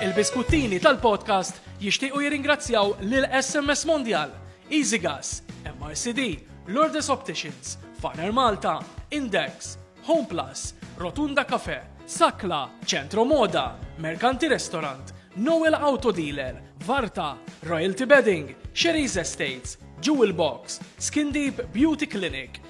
Il-biskuttini tal-podcast jixtiequ jirringrazzjaw lil SMS Mondial, Easy Gas, MRCD, Lourdes Opticians, Farner Malta, Index, Home Plus, Rotunda Cafe, Sakla, Centro Moda, Mercanti Restaurant, Noel Auto Dealer, Varta, Royalty Bedding, Sherry's Estates, Jewel Box, Skin Deep Beauty Clinic,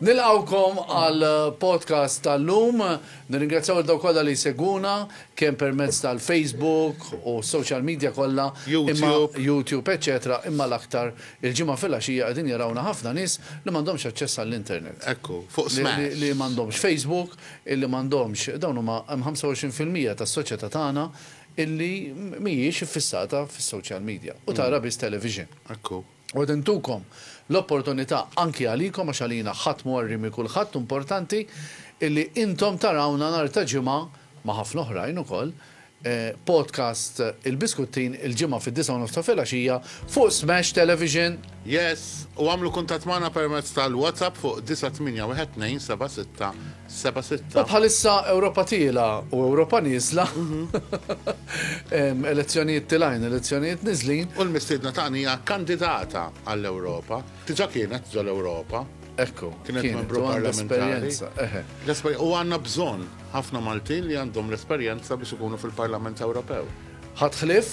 Nilqgħukom għal podcast tal-lum. Nirringrazzjaw lil dawk kollha li jsegwuna kemm permezz tal-Facebook u s-social media kollha, imma YouTube, eċċetera, imma l-aktar il-Ġimgħa filgħaxija qegħdin jarawna ħafna nies li m'għandhomx aċċess għall-internet. Ekku, fuq smash. Li m'għandhomx Facebook, illi m'għandhomx, dawn huma hemm 25 fil-mija tas-soċjetà tagħna illi mhijiex iffissata fis-social media u tara biss television. Ekku. U qed intukom l-opportunità anki għalikom għax għalina ħadd m'huwa rimi kulħadd u importanti illi intom tarawna nhar ta' Ġimgħa, ma' ħafna oħrajn ukoll, podcast Il-Biskuttin il-Ġimgħa fid-disgħa u nofs ta' filgħaxija fuq Smash Television. Yes! U għamlu kuntatt magħna permezz tal-WhatsApp fuq 9812 76 Seba' sitta. U bħalissa Ewropa tiela u Ewropa nieżla. Elezzjonijiet tilajn, elezzjonijiet niżlin. U l-mistiedna tagħna hija kandidata għall-Ewropa. Diġà kienet ġol Ewropa. Ekku. Kienet membru parlamentari. U għandna bżonn ħafna Maltin li għandhom l-esperjenza biex ikunu fil-Parlament Ewropew. Ħadd ħlief?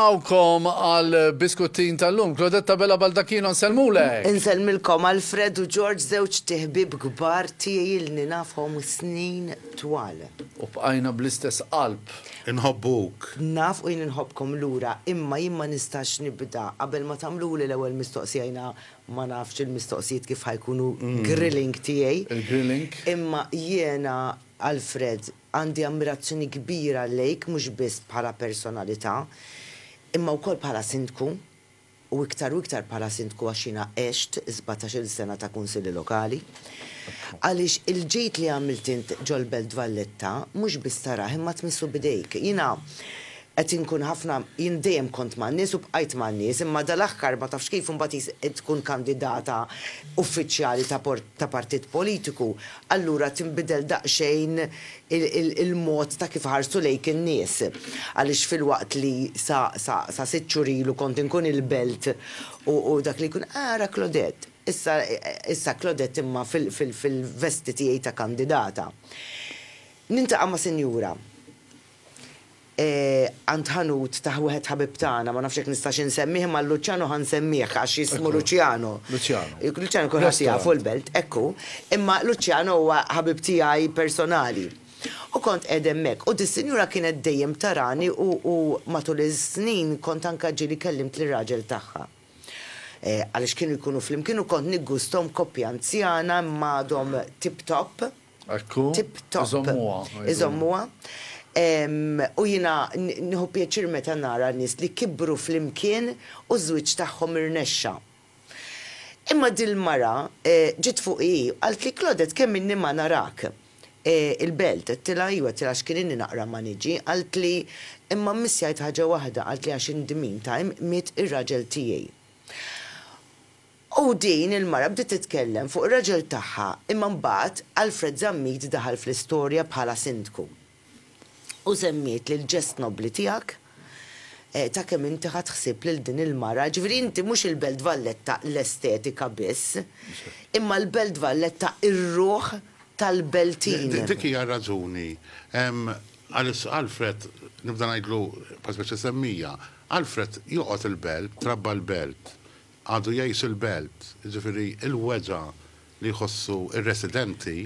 Awkom għal biskuttin tal-lum. Claudette Abela Baldacchino nsellmulek! Insellmilkom Alfred u George żewġ tiħbieb kbar tiegħi ilni nafhom snin twal. U bqajna bl-istess qalb. Inħobbuk. Naf u jien inħobbkom lura imma jien ma nistax nibda qabel ma tagħmluli l-ewwel mistoqsija jiena ma nafx il-mistoqsijiet kif ħa jkunu grilling tiegħi. Il-grilling. Imma jiena Alfred Għandi ammirazzjoni kbira lejk mhux biss bħala personalità, imma wkoll bħala Sindku, u iktar u iktar bħala Sindku għax jiena għext sbatax-il sena ta' Kunsilli Lokali. Għaliex il-ġid li għamilt int ġol-Belt Valletta mhux biss tarah imma tmissu b'idejk. Jiena Qed inkun ħafna, jien dejjem kont man-nies u bqajt man-nies, imma dal-aħħar ma tafx kif imbagħad jis qed tkun kandidata uffiċjali ta' por ta' partit politiku, allura tinbidel daqsxejn il il il-mod ta' kif iħarsu lejk in-nies. Għaliex filwaqt li sa sa sa sitt xhur ilu kont inkun il-belt u u dak li jkun, ah ara Claudette, issa issa Claudette imma fil fil fil-vesti tiegħi ta' kandidata. Nintaqa' ma' sinjura. għand ħanut ta' wieħed ħabib tagħna, ma nafx jekk nistax insemmih imma l-Luċjano ħa nsemmieh għax jismu Luċjano. Luċjano. Luċjano kulħadd jafu l-belt, hekk hu. Imma Luċjano huwa ħabib tiegħi personali. U kont qegħed hemmhekk u dis-sinjura kienet dejjem tarani u matul is-snin kont anke ġieli kellimt lir-raġel tagħha. Għaliex kienu jkunu flimkien u kont niggusthom koppja anzjana imma għadhom tip top. Ekku. Tip top. Iżommuha. Iżommuha. U jiena nieħu pjaċir meta nara nies li kibru flimkien u ż-żwieġ tagħhom irnexxa. Imma dil-mara ġiet fuqi hi u qaltli, Claudette kemm inni ma narak il-belt? Għedtilha iva, għedtilha għax kien inni naqra ma niġi. Qaltli, Imma mmiss jgħid ħaġa waħda, qaltli għax indmin ta' imqmiet ir-raġel tiegħi. U din il-mara bdiet titkellem fuq ir-raġel tagħha imma mbagħad Alfred Zammit daħal fl-istorja bħala sindku u semmietli l-ġest nobbli tiegħek ta' kemm inti ħadt ħsieb lil din il-mara, ġifieri inti mhux il-Belt Valletta l-estetika biss, imma l-Belt Valletta r-ruħ tal-Beltin. Dik hija r-raġuni għaliex Alfred, nibda ngħidlu bħal speċi semmija, Alfred joqgħod il-Belt, trabba l-Belt. għadu jgħix il-belt, jiġifieri l-weġgħa li jħossu r-residenti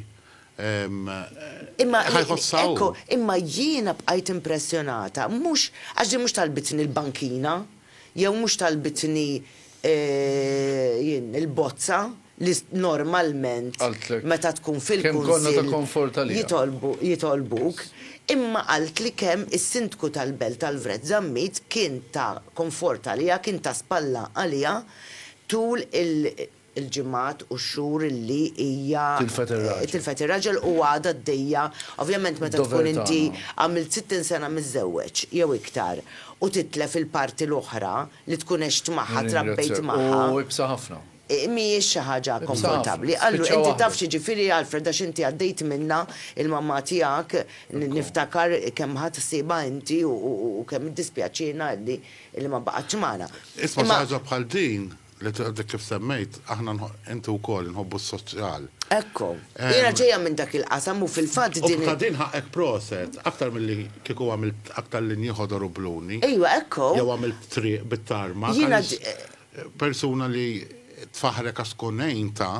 Imma, ħa jħossha hu. ekku, imma jiena bqajt impressjonata, mhux, għax din mhux talbitni l-bankina, jew mhux talbitni il-bozza, li normalment meta tkun fil-Kunsill jitolbuk, imma qalt li kemm is-Sindku tal-Belt Alfred Zammit kien ta' konfort għaliha, kien ta' spalla għaliha tul il-ġimgħat u x-xhur li hija tilfet ir-raġel u għadha għaddejja, ovvjament meta tkun inti għamilt 60 sena miżżewweġ jew iktar u titlef il-parti l-oħra li tkun għext magħha, trabbejt magħha. Mhijiex xi ħaġa konfortabbli. Qallu, Inti taf x'jiġifieri, Alfred, għax inti għaddejt minnha, il-mamma tiegħek, niftakar kemm ħadt ħsiebha inti u kemm iddispjaċiena illi ma baqgħetx magħna. Isma' xi ħaġa bħal din, li għadek kif semmejt, aħna, inti wkoll, inħobbu s-soċjal. Ekku. Jiena ġejja minn dak il-qasam u fil-fatt din. U ta' din ħaqqek proset, aktar milli kieku għamilt aktar linji ħodor u bluni. Ejwa, ekku. Jew għamilt triq bit-tarmak għaliex Persuna li tfaħħrek għax tkun għintha.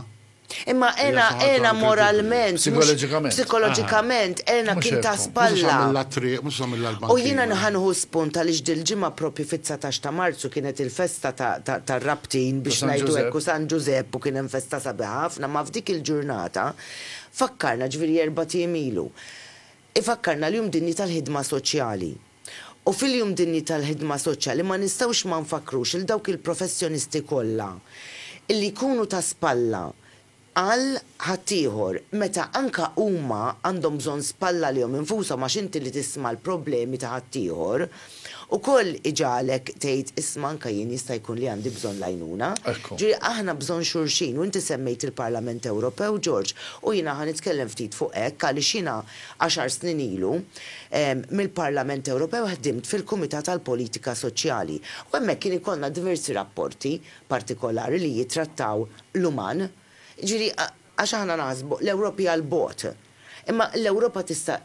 Imma Ena, Ena moralment, psikoloġikament, psikoloġikament, Ena kien ta' spalla. U jiena ħa nieħu spunt għaliex dil-ġimgħa proprju fit-dsatax ta' Marzu kienet il-festa tar-Rabtin biex ngħidu hekk u San Ġużepp u kien hemm festa sabiħa ħafna ma f'dik il-ġurnata fakkarna, ġifieri erbat ijiem ilu, ifakkarna l-Jum Dinji tal-Ħidma Soċjali. U fil-Jum Dinji tal-Ħidma Soċjali ma nistgħux ma nfakkrux lil dawk il-professjonisti kollha li jkunu ta' spalla għal ħaddieħor meta anke huma għandhom bżonn spalla għalihom infushom għax inti li tisma' l-problemi ta' ħaddieħor ukoll iġagħlek tgħid isma' anke jien jista' jkun li għandi bżonn l-għajnuna. Jiġifieri aħna bżonn xulxin u inti semmejt il-Parlament Ewropew George u jiena ħa nitkellem ftit fuq hekk għaliex jiena għaxar snin ilu, mill-Parlament Ewropew ħdimt fil-Kumitat għall-Politika Soċjali u hemmhekk kien ikollna diversi rapporti partikolari li jittrattaw l-uman. Jiġifieri għax aħna naħsbu l-Ewropa hija 'l bogħod. Imma l-Ewropa tista'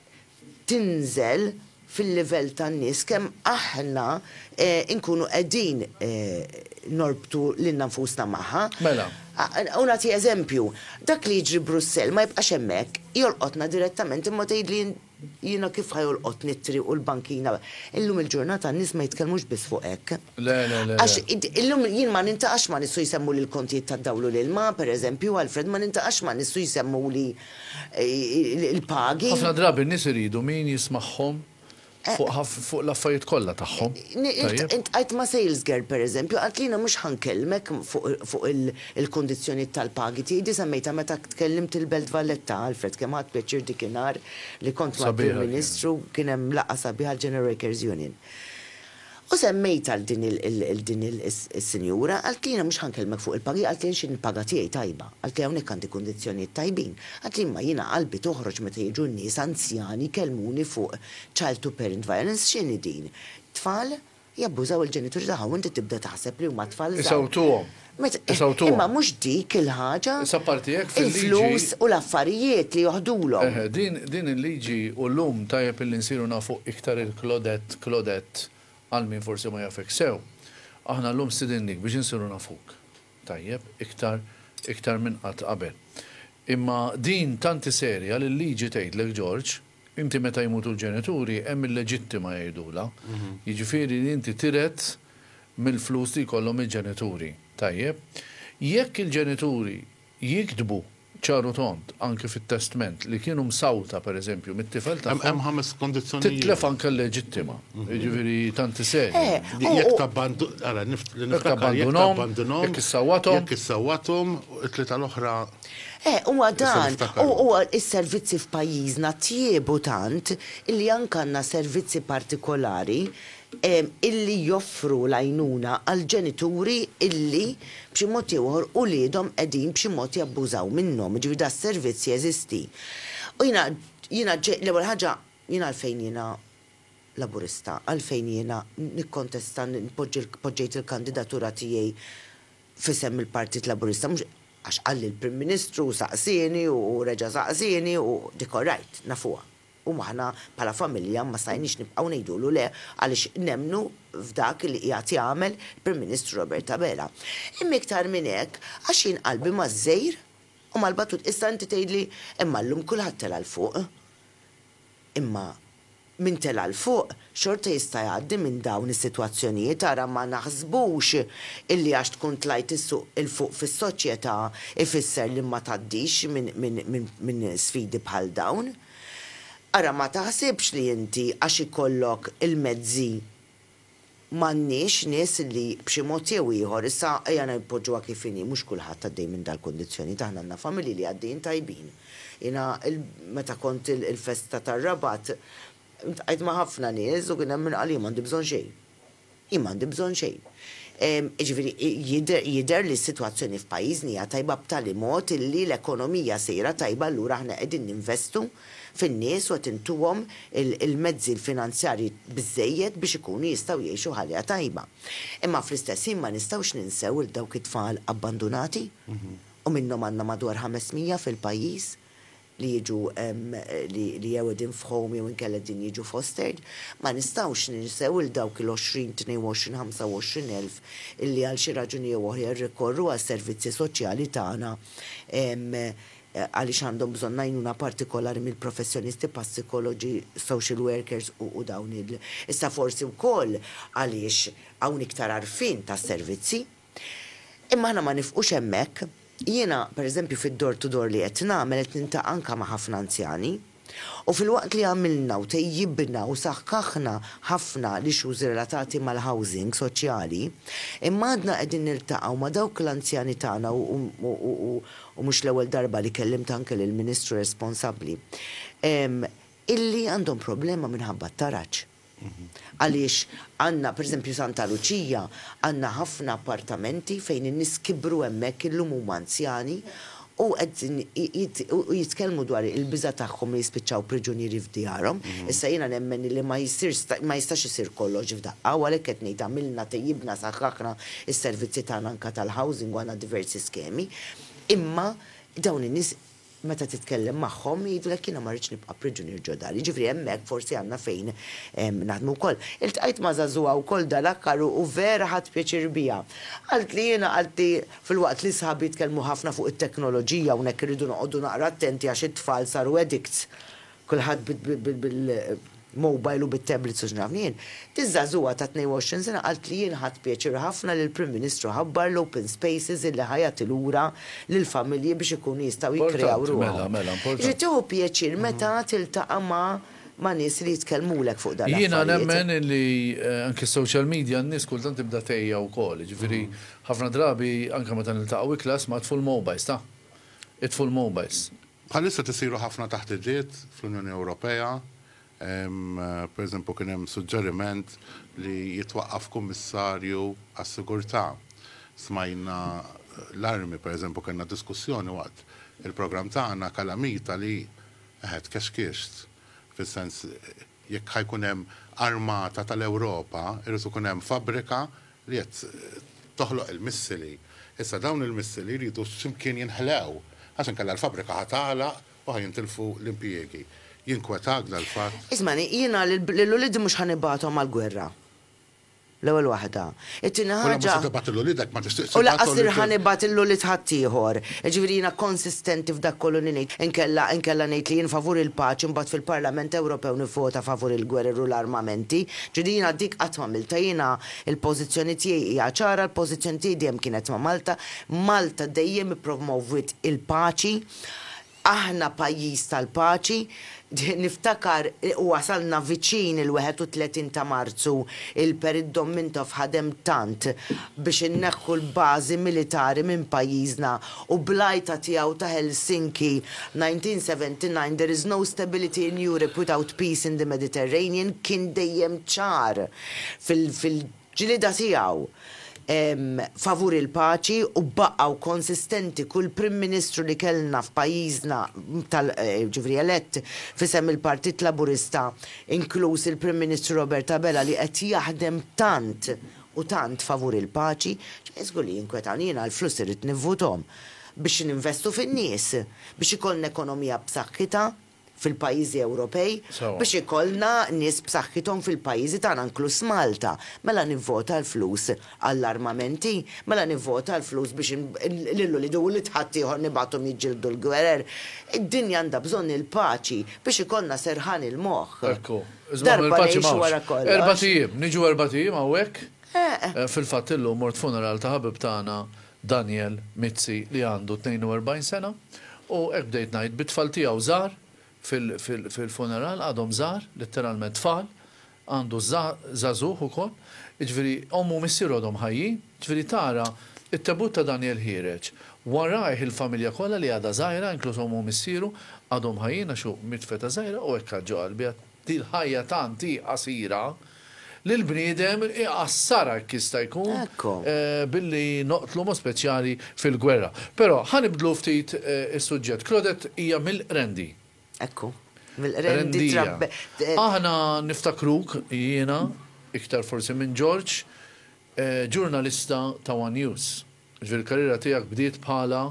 tinżel fil-livell tan-nies kemm aħna nkunu qegħdin norbtu lilna nfusna magħha. Mela. U nagħti eżempju, dak li jiġri Brussell ma jibqax hemmhekk, jolqotna direttament imma tgħidli jiena kif ħa jolqotni t-triq u l-bankina. Illum il-ġurnata n-nies ma jitkellmux biss fuq hekk. Għax illum jien ma niltaqax ma' nies u jsemmuli l-kontijiet tad-dawl u l-ilma, pereżempju, Alfred, ma niltaqax ma' nies u jsemmuli l-pagi. Ħafna drabi n-nies iridu min jismagħhom Fuq l-affarijiet kollha tagħhom. Iltqajt ma' sales girl pereżempju, qaltli jiena mhux ħa nkellmek fuq il-kundizzjonijiet tal-pagi tiegħi, di semmejtha meta tkellimt il-Belt Valletta, Alfred kemm ħadt pjaċir dik inhar li kont mal-Prim Ministru, kien hemm laqgħa sabiħa l-General Workers Union. U semmejt għal din il din il is-sinjura, qaltli jiena mhux ħa nkellmek fuq il-pagi, qaltli għaliex jien il-paga tiegħi tajba, qaltli hawnhekk għandi kundizzjonijiet tajbin, qaltli imma jiena qalbi toħroġ meta jiġu n-nies anzjani jkellmuni fuq child to parent violence, x'inhi din? Tfal jabbużaw il-ġenituri tagħhom u inti tibda taħseb li huma tfal żgħar. Isewwtuhom. Imma mhux dik il-ħaġa, il-flus u l-affarijiet li joħdulhom. Eħe, din, din il-liġi u llum tajjeb illi nsiru nafu iktar il-Claudette, Klodett, għal min forsi ma jafekx sew. Aħna llum stidinnik biex insiru nafuk, tajjeb, iktar, iktar minn qatt qabel. Imma din tanti serja li l-liġi tgħidlek George, Inti meta jmutu l-ġenituri hemm il-leġittima jgħidulha, jiġifieri li inti tirhet mill-flus li jkollhom il-ġenituri. Tajjeb? Jekk il-ġenituri jiktbu ċar u tond, anki fit-testment, li kienu msawta, per eżempju, mit-tifel tagħhom. Hemm ħames kondizzjonijiet. Titlef anke l-leġittima. Jiġifieri tanti serja. Jekk tabbandu, ara, li niftakar. Jekk tabbandunhom. Jekk issawwathom. Jekk issawwathom, it-tlieta l-oħra. Eh, huwa dan, u s-servizzi f'pajjiżna tjiebu tant illi anke għandna servizzi partikolari illi joffru l-għajnuna għall-ġenituri illi b'xi mod jew ieħor uliedhom qegħdin b'xi mod jabbużaw minnhom, jiġifieri dan is-servizz jeżisti. U jiena, jiena l-ewwel ħaġa, jien għalfejn jiena Laburista, għalfejn jiena nikkontesta, poġġejt il-kandidatura tiegħi, f'isem il-Partit Laburista, mhux għax qalli l-Prim Ministru u saqsieni u reġa' saqsieni u dik all right, nafuha. U aħna bħala familja ma stajniex nibqgħu ngħidulu le għaliex nemmnu f'dak li qiegħed jagħmel il-Prim Ministru Robert Abela. Imma iktar minn hekk għax jien qalbi maż-żgħir u mal-batut. Issa inti tgħidli imma llum kulħadd tela' 'l fuq. Imma min tela' 'l fuq xorta jista' jgħaddi minn dawn is-sitwazzjonijiet ara ma naħsbux illi għax tkun tlajt 'l fuq fis-soċjetà ifisser li ma tgħaddix minn sfidi bħal dawn. Ara ma taħsibx li inti għax ikollok il-mezzi M'għandniex nies li b'xi mod jew ieħor, issa ejja npoġġuha kif inhi, mhux kulħadd għaddej minn dal-kundizzjonijiet, aħna għandna familji li għaddejjin tajbin. Jiena meta kont il-festa tar-Rabat, ltqajt ma' ħafna nies u kien hemm min qal jien m'għandi bżonn xejn. Jien m'għandi bżonn xejn. Jiġifieri jidher li s-sitwazzjoni f'pajjiżni hija tajba b'tali mod illi l-ekonomija sejra tajba allura aħna qegħdin ninvestu fin-nies u qed intuhom il-mezzi l-finanzjarji biżżejjed biex ikunu jistgħu jgħixu ħajja tajba. Imma fl-istess ħin ma nistgħux ninsew il dawk it-tfal abbandunati u minnhom għandna madwar 500 fil-pajjiż li jiġu li jew qegħdin f'home jew inkella qegħdin jiġu fostered. Ma nistgħux ninsew il dawk il-20, 22, 25 elf illi għal xi raġuni jew oħra jirrikorru għal servizzi soċjali tagħna għaliex għandhom bżonn għajnuna partikolari mill-professjonisti bħas-sikologi, social workers u dawn il. Issa forsi wkoll għaliex hawn iktar għarfien tas-servizzi. Imma aħna ma nifqux hemmhekk. Jiena, pereżempju, fid-door to door li qed nagħmel qed niltaqa' anke ma' ħafna anzjani. U filwaqt li għamilna u tejjibna u saħħaħna ħafna l-issues relatati mal-housing soċjali, imma għadna qegħdin niltaqgħu ma' dawk l-anzjani tagħna u mhux l-ewwel darba li kellimt anke lill-Ministru responsabbli, illi għandhom problema minħabba t-taraġ. Għaliex għandna, per eżempju Santa Luċija, għandna ħafna appartamenti fejn in-nies kibru hemmhekk illum huma anzjani u qegħdin jitkellmu dwar il-biża' tagħhom li jispiċċaw priġunieri f'djarhom. Issa jiena nemmen illi ma jistax isir kollox f'daqqa u għalhekk qed ngħid għamilna, tejjibna, saħħaħna s-servizzi tagħna anke tal-housing u għandna diversi skemi, imma dawn in-nies, meta titkellem magħhom jgħidulek jiena ma rridx nibqa' priġunier ġo dari. Jiġifieri hemmhekk forsi għandna fejn naħdmu wkoll. Iltqajt ma' żagħżugħa wkoll dal-aħkar u vera ħadt pjaċir biha. Qaltli jiena qaltli filwaqt li sħabi jitkellmu ħafna fuq it-teknoloġija hawnhekk irridu noqogħdu naqra attenti għax it-tfal saru addicts kulħadd bil-mobile u bit-tablets u x'naf jien, diż-żagħżugħa ta' 22 sena qalt li jien ħadt pjaċir ħafna li l-Prim Ministru ħabbar l-open spaces illi ħa jagħti lura lill-familji biex ikunu jistgħu jikkreaw ruħhom. Jiġifieri tieħu pjaċir meta tiltaqa' ma' nies li jitkellmulek fuq dan l-affarijiet. Jiena nemmen illi anke s-social media n-nies kultant tibda tgħejja wkoll, jiġifieri ħafna drabi anke meta niltaqgħu iklas ma' itfu l-mobiles ta'. Itfu l-mobiles. Bħalissa qed isiru ħafna taħdidiet fl-Unjoni Ewropea. Pereżempju kien hemm suġġeriment li jitwaqqaf kummissarju għas-sigurtà. Smajna l-armi, pereżempju kellna diskussjoni waqt il-programm tagħna, kalamita li eħe tkexkixt, fis-sens Jekk ħa jkun hemm armata tal-Ewropa, irid ikun hemm fabbrika li qed toħloq il-missili. Issa dawn il-missili jridu x'imkien jinħlew, għax inkella l-fabbrika ħa tagħlaq u ħa jintilfu l-impjiegi. Jinkwetak dal-fatt? Ismagħni, jiena lil uliedi mhux ħa nibgħathom għall-gwerra. L-ewwel waħda. It-tieni ħaġa. U lanqas se tibgħat lil uliedek, ma tixtieqx tibgħathom lil. U lanqas sir ħa nibgħat lil ulied ħaddieħor. Jiġifieri jiena konsistenti f'dak kollu li ngħid. Inkella, inkella ngħid li jien favur il-paċi mbagħad fil-Parlament Ewropew nivvota favur il-gwerer u l-armamenti. Ġifieri jiena dik qatt m'għamiltha. Jiena l-pożizzjoni tiegħi hija ċara, l-pożizzjoni tiegħi dejjem kienet ma' Malta. Malta dejjem ippromowwiet il-paċi. Aħna pajjiż tal-paċi, niftakar wasalna viċin il-31 ta' Marzu, il-Perit Dom Mintoff ħadem tant biex inneħħu l-bażi militari minn pajjiżna u bl-għajta tiegħu ta' Helsinki 1979 there is no stability in Europe without peace in the Mediterranean kien dejjem ċar fil ġlieda tiegħu favur il-paċi u baqgħu konsistenti kull Prim Ministru li kellna f'pajjiżna tal ġifieri elett f'isem il-Partit Laburista inkluż il-Prim Ministru Robert Abela li qed jaħdem tant u tant favur il-paċi ġifieri żgur li jinkwetawni jiena l-flus irrid nivvuthom biex ninvestu fin-nies biex ikollna ekonomija b'saħħitha fil-pajjiżi Ewropej biex ikollna nies b'saħħithom fil-pajjiżi tagħna inkluż Malta. Mela nivvota l-flus għall-armamenti? Mela nivvota l-flus biex lil uliedi u ulied ħaddieħor nibagħthom jiġġieldu l-gwerer? Id-dinja għandha bżonn il-paċi biex ikollna serħan il-moħħ. Ekku. Iżda aħna l-paċi m'hawnx. Erbat ijiem. Niġu erbat ijiem hawnhekk? Fil-fatt illum mort funeral ta' ħabib tagħna Daniel Mizzi li għandu 42 sena u hekk bdejt ngħid bit-tfal tiegħu żgħar fil-funeral, għadhom żgħar, litteralment tfal, għandu żagħżugħ ukoll, jiġifieri ommu u missieru għadhom ħajjin, jiġifieri tara t-tebut ta' Daniel ħiereġ, warajh il-familja kollha li għadha żgħira inkluż ommu u missieru għadhom ħajjin għax hu miet f'età żgħira u hekk għadd ġo qalbi, Din l-ħajja tant hi qasira li l-bniedem iqassarha jekk jista' jkun billi noqtlu b'mod speċjali fil-gwerra. Però ħa nibdlu ftit is-suġġett. Claudette hija mill-Qrendi. Ekku. Mill-Qrendi trabbet. Aħna niftakruk, jiena iktar forsi minn George, ġurnalista ta' one News. Il-karriera tiegħek bdiet bħala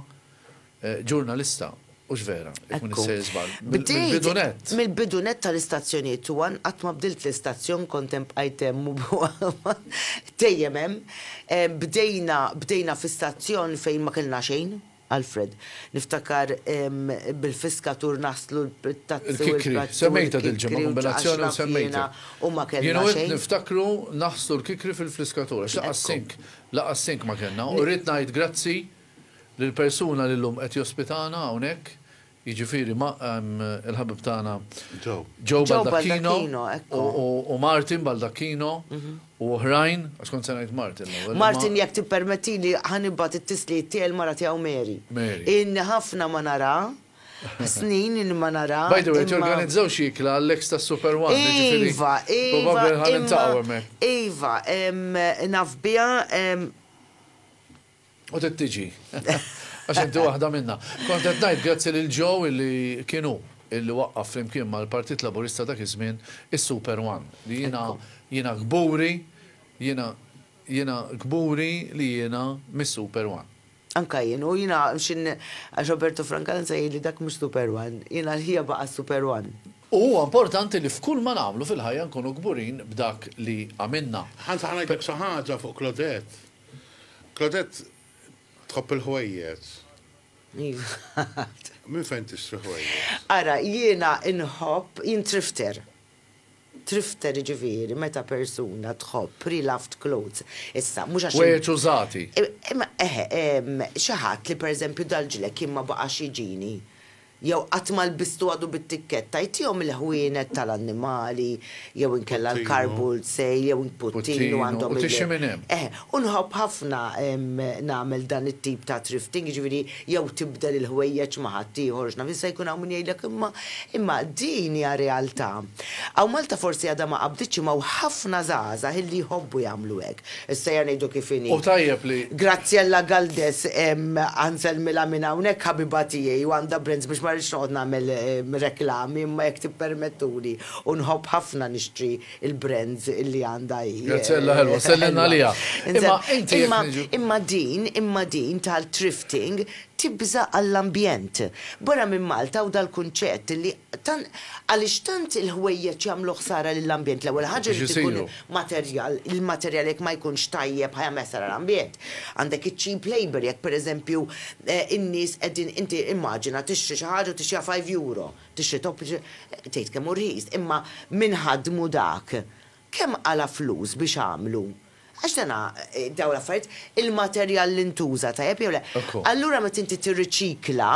ġurnalista, hux vera? Jekk m'iniex sejjer żball. Mill-bidu nett. Mill-bidu nett tal-istazzjonijiet u għan qatt ma bdilt l-istazzjon, kont hemm bqajt hemm u dejjem hemm. Bdejna, bdejna fi stazzjon fejn ma kellna xejn, Alfred. Niftakar bil-fiskatur naslu bit-tazzi u l-kikri. Il-kikri, semmejtha dil-ġimgħa, kombinazzjoni u semmejtha. U ma kellna xejn. Jien u int niftakru naħslu l-kikri fil-fliskatur, għax laqqas sink Laqas sink ma kellna u rrid ngħid grazzi lill-persuna li llum qed jospitana hawnhekk, jiġifieri il-ħabib tagħna Joe Baldacchino u Martin Baldacchino u oħrajn, għax kont se ngħid Martin l-ewwel. Martin jekk tippermettili ħa nibgħat it-tislijiet tiegħi l-mara tiegħu Mary. Ilni ħafna ma narha. snin li ma nara. By the way, torganizzaw xi ikla għall-ex ta' Super One. Iva, iva. Iva, naf biha. U tittiġi. Għax inti waħda minna. Kont qed ngħid grazzi lil Joe illi kienu illi waqqaf flimkien mal-Partit Laburista dak iż-żmien is-Super One. Li jiena jiena kburi, jiena jiena kburi li jiena mis-Super One. Anka jien, u jiena xi għax Roberto Francanza jgħidli dak mhux Super One, jiena l-ħija baqa' Super One. U huwa importanti li f'kull ma nagħmlu fil-ħajja nkunu kburin b'dak li għamilna. Hans ħa ngħidlek xi ħaġa fuq Claudette. Claudette tħobb il-ħwejjeġ. Iva. Minn fejn tixtri ħwejjeġ? Ara, jiena inħobb, jien thrifter. Thrifter jiġifieri meta persuna tħobb pre-loved clothes. Issa, mhux għax. Wejgħet użati. Imma, eħe, xi ħadd li pereżempju dal-ġlekk jien ma baqax jiġini, jew qatt ma lbistu għadu bit-tikketta, jtihom il-ħwienet tal-annimali, jew inkella l-car boot sale, jew puttinu għandhom il-. Puttinu, u tixi minn hemm. Eħe, u nħobb ħafna nagħmel dan it-tip ta' thrifting, jiġifieri. jew tibdel il-ħwejjeġ ma' ħaddieħor, x'naf jista' jkun hawn min jgħidlek imma, imma din hija realtà. Hawn Malta forsi għadha ma qabditx imma hawn ħafna żgħażagħ illi jħobbu jagħmlu hekk. Is-sejjer ngħidu kif inhi. U tajjeb li. Graziella Galdes, Ħa nsellmilha minn hawnhekk ħabiba tiegħi u għandha brands biex ma rridx noqgħod nagħmel reklami imma jekk tippermettuli u nħobb ħafna nixtri il-brands illi għandha hi. Gazzella ħelwa, sellin għaliha. Imma inti Imma din, imma din tal-thrifting tibża' għall-ambjent. Barra minn Malta hawn dal-kunċett li għaliex tant il-ħwejjeġ jagħmlu ħsara lill-ambjent. L-ewwel ħaġa irid ikun materjal, il-materjal jekk ma jkunx tajjeb ħa jagħmel ħsara l-ambjent. Għandek iċ-cheap labour jekk pereżempju in-nies qegħdin inti immaġina tixtri xi ħaġa u tixtriha five euro. Tixtri topp tgħid kemm hu rħis, imma min ħaddmu dak, kemm qala' flus biex għamlu? Għax dana, dawn l-affarijiet, il-materjal li ntuża tajjeb jew le. Allura meta inti tirriċikla,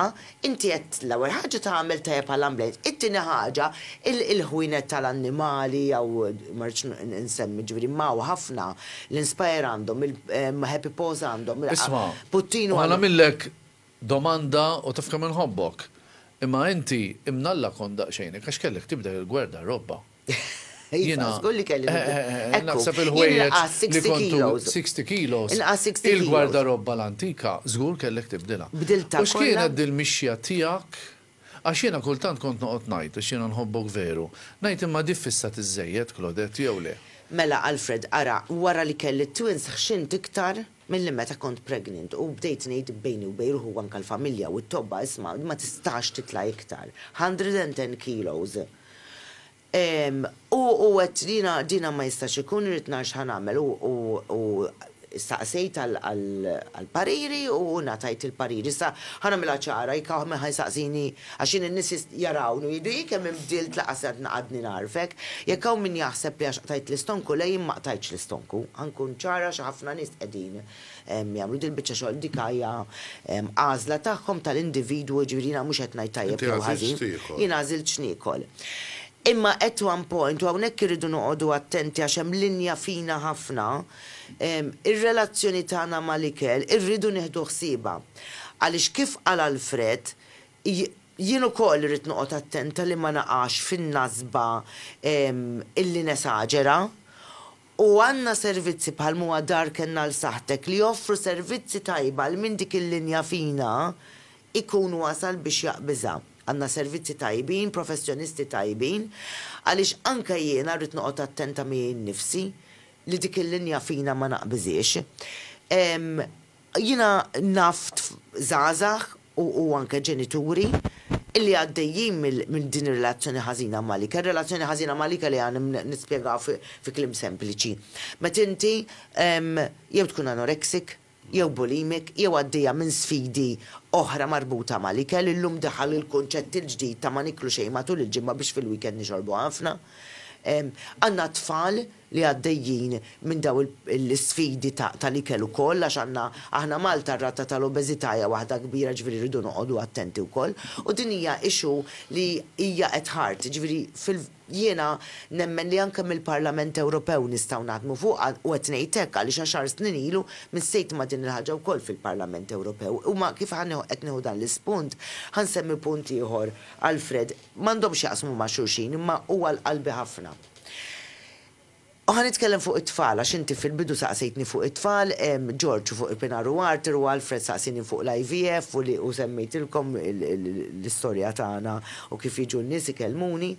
inti qed l-ewwel ħaġa tagħmel tajjeb għall-ambjent, it-tieni ħaġa il-ħwienet tal-annimali jew ma rridx insemmi ġifieri imma hawn ħafna, l-Inspire għandhom, il-Happy Paws għandhom, Puttinu għandu. Isma', u ħa nagħmillek Domanda, U taf kemm inħobbok! Imma inti, imnalla kont daqsxejnek għax kellek tibdel il-gwerda, r-robba. Jiena, eħeħeħeħ, naħseb il-ħwejjeġ li kontu, sixty kilos, il-gwarda robba l-antika, żgur kellek tibdilha. U x'kienet dil-mixja tiegħek? Għax jiena kultant kont noqgħod ngħid, għax jiena nħobbok veru, ngħid imma di fissat iżżejjed, Claudette, jew le? Mela, Alfred, ara, wara li kelli t-twins ħxint iktar, Milli meta kont pregnant u bdejt ngħid bejni u bejn ruħi u anke l-familja u t-tobba isma' ma tistax titla' iktar. Hundred and ten kilos. U u għedt jiena dina ma jistax ikun irrid nara x'ħa nagħmel u u u staqsejt għal għal għall-pariri u ngħatajt il-parir. Issa ħa nagħmilha ċara jekk hawn min ħa jsaqsini Għax jien in-nies jarawni u jgħidu, 'Hi kemm inbdilt laqas għad għadni nagħrfek. Jekk hawn min jaħseb li għax qtajt l-istonku, le jien ma qtajtx l-istonku. Ħa nkun ċara għax ħafna nies qegħdin jagħmlu dil-biċċa xogħol, dik hija għażla tagħhom tal-individwu, jiġifieri jiena mhux qed ngħid tajjeb jew ħażin, jien għażilt x'niekol. Imma at one point, u hawnhekk irridu noqogħdu attenti għax hemm linja fina ħafna, ir-relazzjoni tagħna mal-ikel irridu nieħdu ħsiebha. Għaliex kif qal Alfred, Jien ukoll irrid noqgħod attenta li ma naqax fin-nasba illi nesaġera. U għandna servizzi bħal m'huwa Dar Kenna għal Saħħtek li joffru servizzi tajba għal min dik il-linja fina jkun wasal biex jaqbiżha. Għandna servizzi tajbin, professjonisti tajbin, għaliex anke jiena rrid noqgħod attenta miegħi nnifsi li dik il-linja fina ma naqbiżhiex. Jiena naf żgħażagħ, u anke ġenituri li għaddejjin minn din ir-relazzjoni ħażina mal-ikel. Relazzjoni ħażina mal-ikel hija nispjegaw fi kliem sempliċi. Meta inti jew tkun anorexic, jew bulimic, jew għaddejja minn sfidi oħra marbuta mal-ikel, illum daħal il-kunċett il-ġdid ta' ma niklu xejn matul il-ġimgħa biex fil-weekend nixorbu ħafna. Għandna tfal li għaddejjin minn dawn l-isfidi tal-ikel ukoll għax għandna aħna Malta r-rata tal-obeżità hija waħda kbira ġifieri rridu noqogħdu attenti wkoll u din hija issue li hija at heart jiġifieri fil jiena nemmen li anke mill-Parlament Ewropew nistgħu naħdmu fuqha u qed ngħid hekk għaliex għaxar snin ilu missejt ma' din il-ħaġa wkoll fil-Parlament Ewropew u ma kif qed nieħu dan l-ispunt ħa nsemmi punt ieħor Alfred m'għandhomx jaqsmu ma' xulxin imma huwa għal qalbi ħafna. U ħa nitkellem fuq it-tfal, għax inti fil-bidu saqsejtni fuq it-tfal, George fuq il-pinar u Arthur u Alfred saqsieni fuq l-IVF u li u semmejtilkom l-istorja tagħna u kif jiġu n-nies ikellmuni.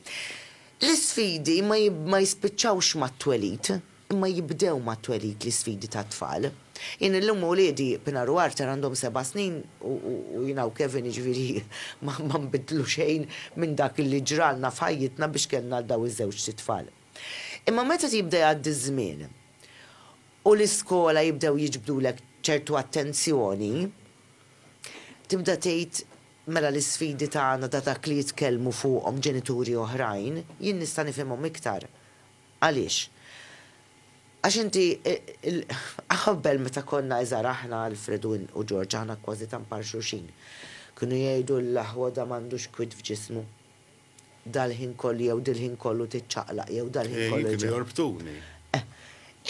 L-isfidi ma ma jispiċċawx mat-twelid, imma jibdew mat-twelid l-isfidi tat-tfal. Jien illum uliedi, Pinar u Arthur għandhom seba' snin u jiena u Kevin jiġifieri ma nbiddlu xejn minn dak li ġralna f'ħajjitna biex kellna lil dawn iż-żewġt itfal. Imma meta jibda jgħaddi ż-żmien u l-iskola jibdew jiġbdulek ċertu attenzjoni, tibda tgħid mela l-isfidi tagħna ta' dak li jitkellmu fuqhom ġenituri oħrajn, jien nista' nifhimhom iktar. Għaliex? Għax inti Qabel meta konna iżgħar aħna, Alfred u George, aħna kważi tant bħal xulxin. Kienu jgħidu l-aħwa da m'għandux kwiet f'ġismu. Dal-ħin kollu jew dil-ħin kollu tiċċaqlaq jew dal-ħin kollu. Kienu jorbtuni.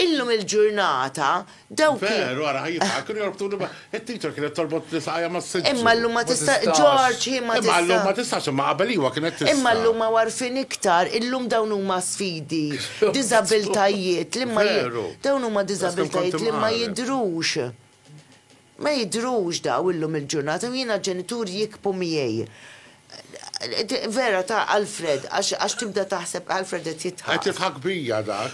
Illum il-ġurnata Dawk li. Veru, ara ħaj jitħak, kienu jorbtuni ma. It-teacher kienet torbot li saqajja ma s-sidġu. Imma llum ma tista', George, hi ma tista'. Imma llum ma tistax, imma qabel iwa kienet tista'. Imma llum hawn għarfien iktar, illum dawn huma sfidi, diżabiltajiet li ma. Veru. Dawn huma diżabiltajiet li ma jidhrux. Ma jidhrux dawn illum il-ġurnata u jiena ġenituri jikbu miegħi. Vera ta' Alfred, għax tibda taħseb Alfred qed jidħak. Qed jidħak bija dak.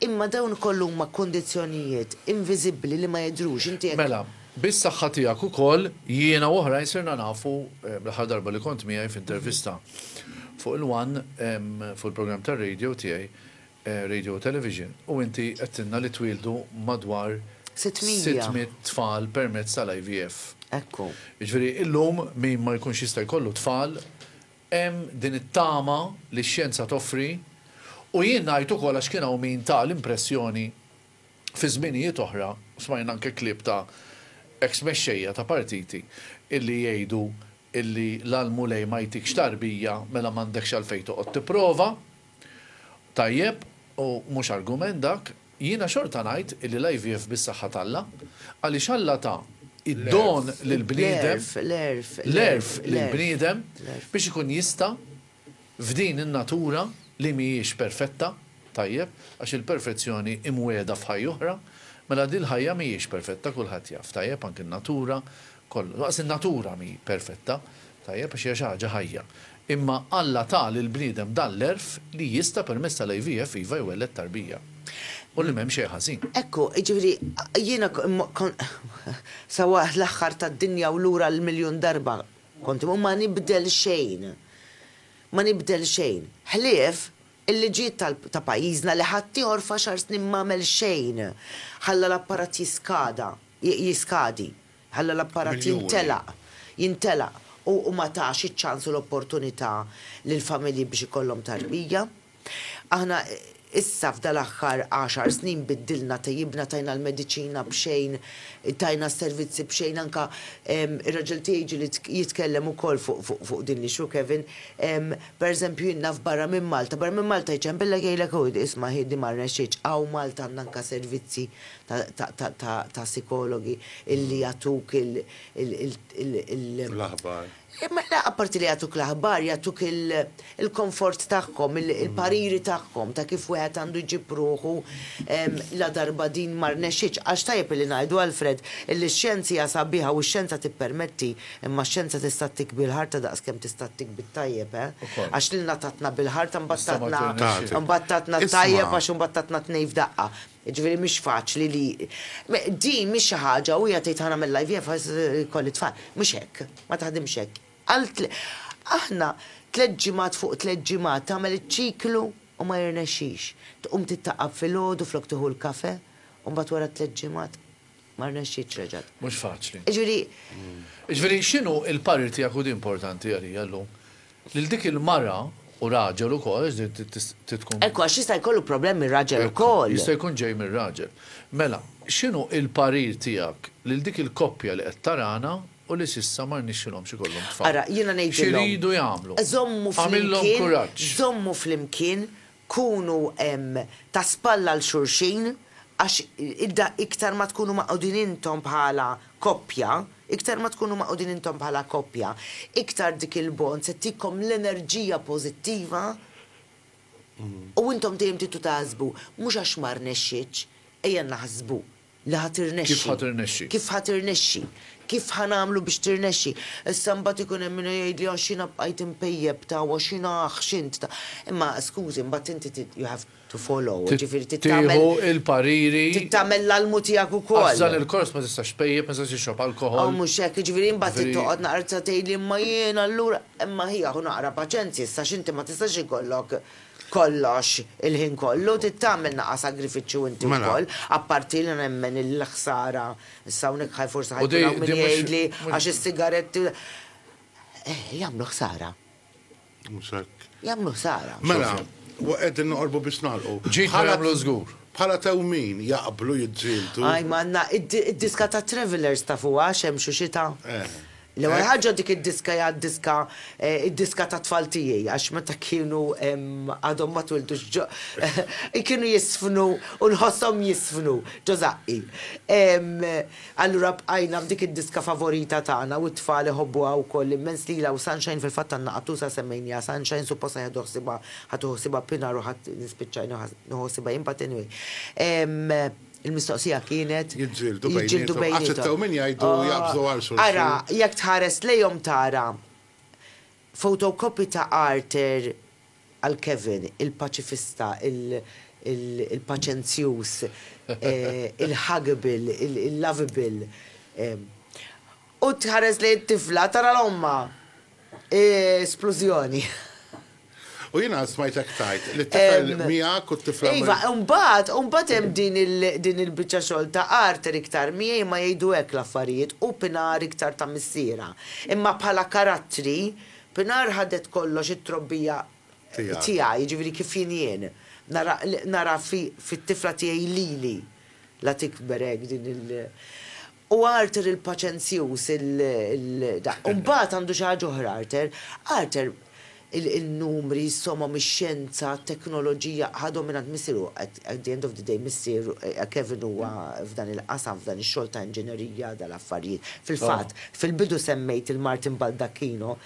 Imma dawn ukoll huma kundizzjonijiet inviżibbli li ma jidhrux. Inti jekk. Mela, bis-saħħa tiegħek ukoll, jiena u oħrajn sirna nafu, l-aħħar darba li kont miegħi f'intervista fuq il-one, fuq il-programm tar-radio tiegħi, Radio u Television, u inti għedtilna li twieldu madwar. Sitt miegħa. Sitt mitt tfal permezz tal-IVF. Ekku. Jiġifieri illum min ma jkunx jista' jkollu tfal, Hemm din it-tama li x-xjenza toffri, u jien ngħid ukoll għax kien hawn min ta l-impressjoni fi żminijiet oħra, u smajna anke klieb ta' eks mexxejja ta' partiti illi jgħidu illi la l-Mulej ma jtikx tarbija mela m'għandekx għalfejn toqgħod tipprova. Tajjeb, u mhux argument dak. Jiena xorta ngħid li l-IVF bis-saħħa t'Alla, għaliex Alla ta d-don lill-bniedem, l-għerf lill-bniedem biex ikun jista' f'din in-natura li mhijiex perfetta, tajjeb, għax il-perfezzjoni hi mwiegħda f'ħajja oħra, mela din l-ħajja mhijiex perfetta kulħadd jaf, tajjeb, anki n-natura kollu. Daqs in-natura mhi perfetta, tajjeb, għax hija xi ħaġa ħajja. Imma Alla ta lill-bniedem dan l-għerf li jista' permezz tal-IVF iva jwelled tarbija. U li m'hemm xejn ħażin. Ekku, jiġifieri jiena kont sa waqt l-aħħar tad-dinja u lura l-miljun darba kont imur, ma nibdel xejn. Ma nibdel xejn. Ħlief il-liġijiet tal ta' pajjiżna li ħaddieħor f'għaxar snin m'għamel xejn. Ħalla l-apparat jiskada. jiskadi, ħalla l-apparat jintelaq, jintelaq u ma tax iċ-ċans u l-opportunità lill-familji biex ikollhom tarbija. Aħna issa f'dal-aħħar għaxar snin biddilna, tejjibna, tajna l-mediċina b'xejn, tajna s-servizzi b'xejn, anke ir-raġel tiegħi ġieli jitkellem ukoll fuq din l-issue, Kevin, pereżempju jien naf barra minn Malta, barra minn Malta jċempillek jgħidlek hu isma' hi din ma rnexxietx, hawn Malta għandna anke servizzi ta' sikologi illi jagħtuk il. L-aħbar. Le apparti li jagħtuk l-aħbar, jagħtuk il-komfort tagħhom, il-pariri tagħhom ta' kif wieħed għandu jġib ruħu ladarba din ma rnexxitx. Għax tajjeb illi ngħidu Alfred illi x-xjenza hija sabiħa u x-xjenza tippermetti, imma x-xjenza tista' ttik bil-ħarta daqskemm tista' ttik bit-tajjeb, eh! Għax lilna tatna bil-ħarta mbagħad tatna mbagħad tatna t-tajjeb għax imbagħad tatna t-tnejn f'daqqa. Jiġifieri mhix faċli li, din mhix xi ħaġa, u hija tgħid ħa nagħmel l-IVF għax ikolli t-tfal. Mhux hekk, ma taħdimx hekk. Aħna tliet ġimgħat fuq tliet ġimgħat tagħmel iċ-ċiklu u ma jirnexxix. Tqum tittaqab filgħodu flok tieħu l-kafè u mbagħad wara tliet ġimgħat. Ma rnexxietx reġgħet. Mhux faċli. Jiġifieri. Jiġifieri x'inhu l-parir tiegħek u di importanti għalija llum, lil dik il-mara u raġel ukoll għax din trid tkun. Ekku għax jista' jkollu problemi r-raġel ukoll. Jista' jkun ġej mir-raġel. Mela, x'inhu l-parir tiegħek lil dik il-koppja li qed tarana u li s'issa ma rnixxilhomx ikollhom tfal? Ara, jiena ngħidilhom. X'iridu jagħmlu? Żommu flimkien. Għamillhom kuraġġ. Żommu flimkien Kunu ta' spalla għal xulxin għax iktar ma tkunu magħqudin intom bħala koppja, iktar ma tkunu magħqudin intom bħala koppja, iktar dik il-bond se ttikom l-enerġija pożittiva u intom dejjem tibqgħu taħsbu mhux għax ma rnexxitx, ejja naħsbu Li ħa tirnexxi. Kif ħa tirnexxi. Kif ħa tirnexxi. Kif ħa nagħmlu biex tirnexxi. Issa mbagħad ikun hemm min jgħidli għax jiena bqajt impejjep ta' u għax jiena aħ x'int ta'. Imma skużi mbagħad inti trid you have to follow, jiġifieri trid tagħmel. Tieħu il-pariri. Trid tagħmel l-almu tiegħek ukoll. Għax f'dan il-kors ma tistax tpejjep, ma tistax tixrob alkoħol. Aw mhux hekk, jiġifieri imbagħad trid toqgħod naqra tgħidli imma jiena allura. Imma ħi aħu naqra paċenzja issa għax inti ma tistax ikollok. kollox, il-ħin kollu, trid tagħmel naqqa' sagrifiċċju inti Mela. wkoll, apparti li nemmen li l-ħsara, issa hawnhekk ħaj forsi ħa U jkun di- hawn di min mhux- jgħidli mhux- għax is-sigaretti Eh, jagħmlu ħsara, Mhux hekk. jagħmlu ħsara. Mela, u qegħdin noqorbu biex nagħlqu. Ġid ma Bħala- jagħmlu żgur. Bħala tewmin jaqblu jiġġieldu. Ajma għandna id-diska ta' Travelers tafuha xemx u xita. Eh. L-ewwel ħaġa dik id-diska hija d-diska d-diska tat-tfal tiegħi għax meta kienu għadhom ma twildux ġo kienu jiżfnu u nħosshom jiżfnu ġo żaqqi. Allura bqajna b'dik id-diska favorita tagħna u t-tfal iħobbuha wkoll immens lilha u Sunshine fil-fatt għandna qattusa semmejnieha Sunshine suppost se jieħdu ħsiebha ħad tieħu ħsiebha Pinar u ħadd nispiċċa nieħu ħsiebha jien but anyway. Il-mistoqsija kienet, Jiġġieldu bejniethom. Jiġġieldu bejniethom. Għax it-tew min jgħidu jaqbżu għal xulxin. Ara, jekk tħares lejhom tara photocopy ta' Arthur għal Kevin, il-paċifista, il-paċenzjuż, il-huggable, il-lovable. U tħares lejn it-tifla tara l-ommha. Splużjoni. U jiena smajtek tgħid li t-tifel miegħek u t-tifla marru. Iva, imbagħad, imbagħad hemm din il-biċċa xogħol ta' Arthur iktar, miegħi ma jgħidu hekk l-affarijiet, hu Pinar iktar ta' missierha. Imma bħala karattri, Pinar ħadet kollox it-trobbija tiegħi, jiġifieri kif jien jien. Nara, nara fit-tifla tiegħi lili la tikber hekk din il. U Arthur il-paċenzjuż, il-da. U mbagħad għandu xi ħaġa oħra Arthur. Arthur, in-numri, is-somom, ix-xjenza, t-teknoloġija, ħa dominant missieru, at the end of the day missier Kevin huwa f'dan il-qasam, f'dan ix-xogħol ta' inġinerija, dal-affarijiet. Fil-fatt, fil-bidu semmejt lil Martin Baldacchino,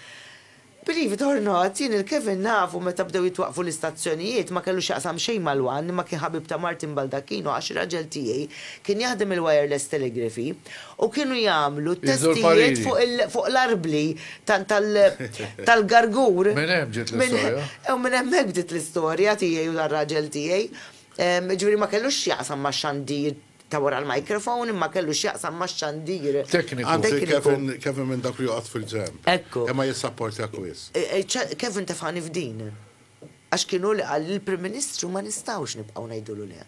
Believe it or not, jien lil Kevin nafu meta bdew jitwaqqfu l-istazzjonijiet, ma kellu x'jaqsam xejn mal-one, imma kien ħabib ta' Martin Baldacchino għax ir-raġel tiegħi kien jaħdem il-wireless telegraphy u kienu jagħmlu t-testijiet fuq l-arbli tal-gargur. Minn hemm ġiet l-istorja. U minn hemmhekk bdiet l-istorja tiegħi u tar-raġel tiegħi. Jiġifieri ma kellux x'jaqsam ma' xandir ta' wara l-microphone imma kellu x'jaqsam max-xandir Tekniku, fi tekniku. Kevin, Kevin minn dawk li joqgħod fil-ġenb. Hekk. Imma jissapportjak wisq. E, e, ċ, Kevin tefgħani f'din. Għax kien hu li qal lill-Prim Ministru ma nistgħux nibqgħu ngħidulu le.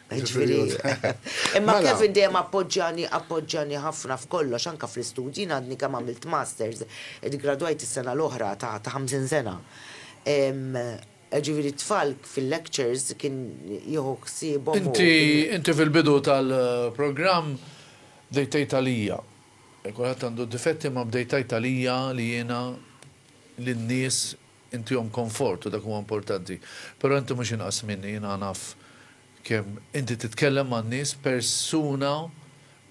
E, Ġifieri Jiġifieri. hu- Imma Mela. Kevin dejjem appoġġjani, appoġġjani ħafna f'kollox, anke fl-istudji. Jien għadni kemm għamilt masters, iggradwajt is-sena l-oħra ta' ta' 50 sena. Em, Jiġifieri t-tfal fil-lectures kien jieħu ħsiebhom u. Inti, inti fil-bidu tal-programm bdejt tgħid għalija, kulħadd għandu d-difetti imma bdejt tgħid għalija li jiena lin-nies intihom konfort u dak huwa importanti. Però inti mhux inqas minni, jiena naf kemm inti titkellem man-nies, persuna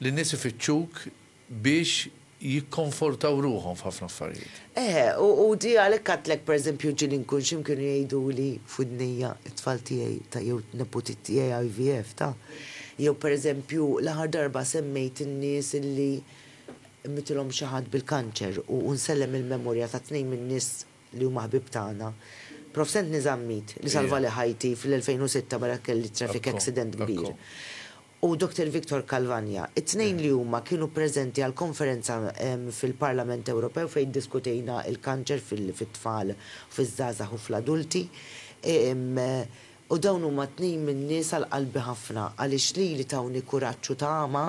li n-nies ifittxuk biex jikkonfortaw ruħhom f'ħafna affarijiet. Eħe, u di għalhekk għedtlek pereżempju ġieli nkun x'imkien kienu jgħiduli f'widnejja t-tfal tiegħi ta' jew t-neputiet tiegħi IVF ta'. Jew pereżempju l-aħħar darba semmejt in-nies illi mitilhom xi ħadd bil-kanċer u nsellem il-memorja ta' tnejn min-nies li huma ħbieb tagħna. Prof. Anthony Zammit li salvali ħajti fl-2006 meta kelli traffic accident kbir. u Dottor Victor Calvagna, it-tnejn li huma kienu preżenti għall-konferenza fil-Parlament Ewropew fejn iddiskutejna l-kanċer fit-tfal, fiż-żgħażagħ u fl-adulti. U dawn huma tnejn min-nies għal qalbi ħafna għaliex lili tawni kuraġġ u tama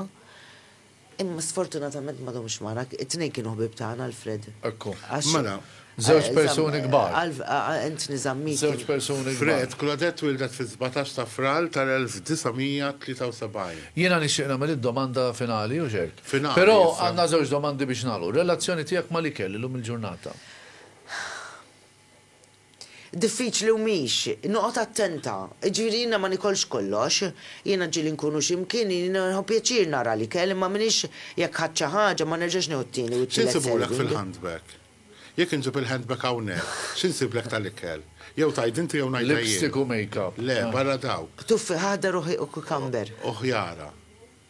Imma sfortunatament ma domx magħna, it-tnejn kienu ħbieb tagħna, Alfred. Ekku. Mela, żewġ persuni kbar. Anthony Zammit. Żewġ persuni kbar. Fred, Claudette twieldet fis-sbatax ta' Frar tal-1973. Jiena nixtieq nagħmel id-domanda finali, u x'hekk. Finali, issa. Però għandna żewġ domandi biex nagħlqu. Relazzjoni tiegħek mal-ikel illum il-ġurnata? Diffiċli u mhix. Noqgħod attenta. Jiġifieri jiena ma nikolx kollox. Jiena ġieli nkun u x'imkien, jiena nieħu pjaċir nara l-ikel imma m'iniex jekk ħadt xi ħaġa ma nerġax nieħu t-tieni u t-tielet serving. X'insibu lek fil-handbag? Jekk inġib il-handbag hawnhekk, x'insiblek tal-ikel? Jew tgħid inti jew ngħidha jien. Lipstick u makeup. Le, barra dawk. Tuffi, ħadar u ħiq u cucumber. U ħjara.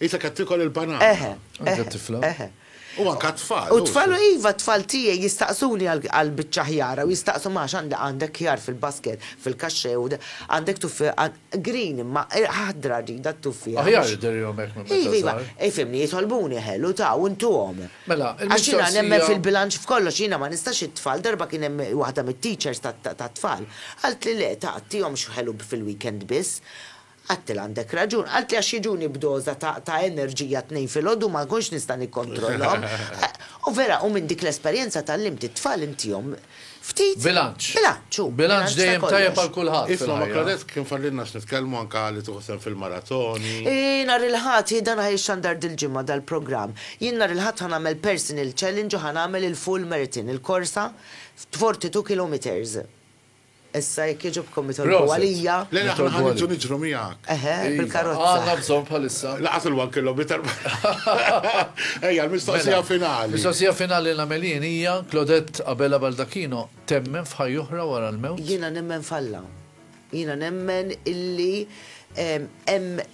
Isek qed tiekol il-banana. Eħe. Anke t-tifla. Eħe. U anke t-tfal. U t-tfal, iva, t-tfal tiegħi jistaqsuni għall-biċċa ħjara u jistaqsu ma għax għandek ħjar fil-basket, fil-kaxxe u għandek tuffiha green imma ħadra rridha t-tuffiha. Aħjar idirihom hekk minn meta żgħar. Iva, iva. Ifhimni, jitolbuni ħelu ta' u ntuhom. Mela, il-mistoqsija. Għax jiena nemmen fil-bilanċ f'kollox, jiena ma nistax it-tfal, darba kien hemm waħda mit-teachers tat-tfal, qaltli le, ta' għattihomx ħelu fil-weekend biss. Għadtilha għandek raġun. Qaltli għax jiġuni b'doża ta' ta' enerġija t-tnejn filgħodu u ma nkunx nista' nikkontrollhom. U vera, u minn dik l-esperjenza tgħallimt it-tfal intihom ftit Bilanċ. bilanċ, hu, Bilanċ bilanċ ta' dejjem tajjeb kollox. għal kulħadd Isma' ma' fil-ħajja. Claudette kien fadlilna x'nitkellmu anke li tieħu sehem fil-maratoni. Eeh, nhar il-Ħadd, hi dan ħa jixxandar dil-ġimgħa dal-programm. Jien nhar il-Ħadd ħa nagħmel personal challenge u ħa nagħmel il-full marathon, il-korsa f' 42 kilometres. Issa jekk jogħġobkom itolbu għalija. Le le aħna ħa niġu niġru miegħek. Eħe, bil-karozza. Għandna bżonn bħalissa. Laqas il-one kilometer. Ejja, l-mistoqsija finali. Mistoqsija finali li nagħmel jien hija, Claudette Abela Baldacchino temmen f'ħajja oħra wara l-mewt? Jiena nemmen f'Alla. Jiena nemmen illi hemm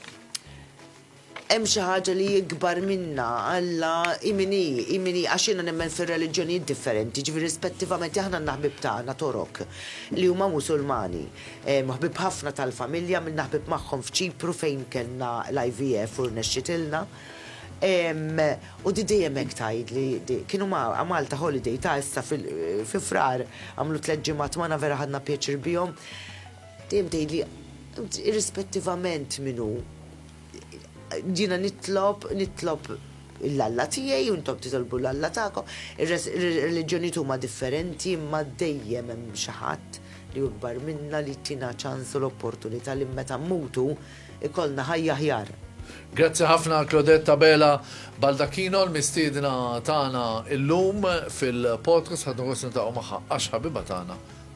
Hemm xi ħaġa li hi kbar minna, Alla hi min hi, hi min hi, għax jiena nemmen fir-reliġjonijiet differenti, jiġifieri rispettivament aħna għandna ħbieb tagħna Torok li huma Musulmani, ħbieb ħafna tal-familja, għamilna ħbieb magħhom f'Ċipru fejn kellna l-IVF u rnexxitilna. U di dejjem hekk tgħidli di. Kienu ma' Malta holiday ta' issa fi Frar, għamlu tliet ġimgħat magħna vera ħadna pjaċir bihom. Dejjem tgħidli irrispettivament min hu, Ġina nitlob, nitlob l-Alla tiegħi u intom titolbu l-Alla tagħkom. Ir-reliġjoni huma differenti imma dejjem hemm xi ħadd li jukbar minna li tina ċans u l-opportunità li meta mmutu ikollna ħajja ħjar. Grazzi ħafna Claudette Tabela Baldacchino l-mistiedna tagħna illum fil-podcast ħadna gost niltaqgħu magħha għax ħabiba tagħna